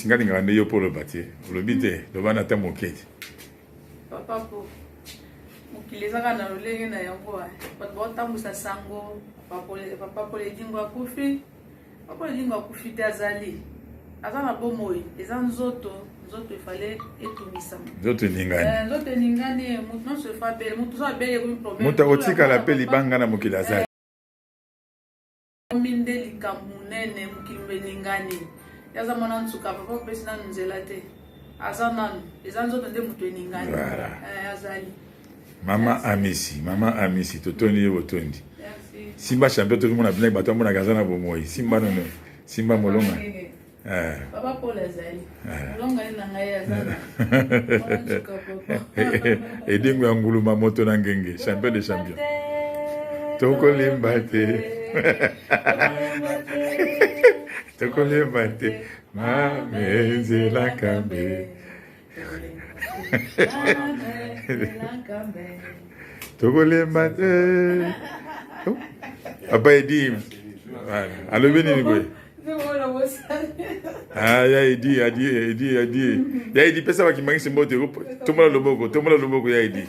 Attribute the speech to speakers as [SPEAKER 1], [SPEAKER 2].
[SPEAKER 1] nga lingaka nde yo mpo oloba te olobi te loba na ta mokeli papa
[SPEAKER 2] po mokili ezaka na lolenge na yango bato baotambwisa sango papa poledingo akufi papa poledingo akufi te azali aza na bomoi eza nzoto nzoto efale etungisama nzoto eningani eh,
[SPEAKER 1] nzoto eningani
[SPEAKER 2] moto nyonso efa bele moto ozo abele ekomi problème moto akotikala mpe
[SPEAKER 1] libanga na mokili azali omi
[SPEAKER 2] nde likambo monene mokili belingani yaza mwana nsuka papa opesi nanu nzela te aza nanu eza nzoto nde moto elingani eh, azali mama amisi mama amisi totondi ye botondi simba champion toki mona bino bato amonaka aza na bomoi simba nono simba molonga Eh. Papa Paul azali. Eh. Longa na ngai
[SPEAKER 1] azali. Edingo ya nguluma moto na ngenge, champion de champion. Tokolemba te. Tokolemba te. Mame nzela kambe. tokolemba te papa edi alobi nini boye ah, ya edi adi edi adi ya edi pesa bakimangisi mbote tombola loboko tombola loboko ya edi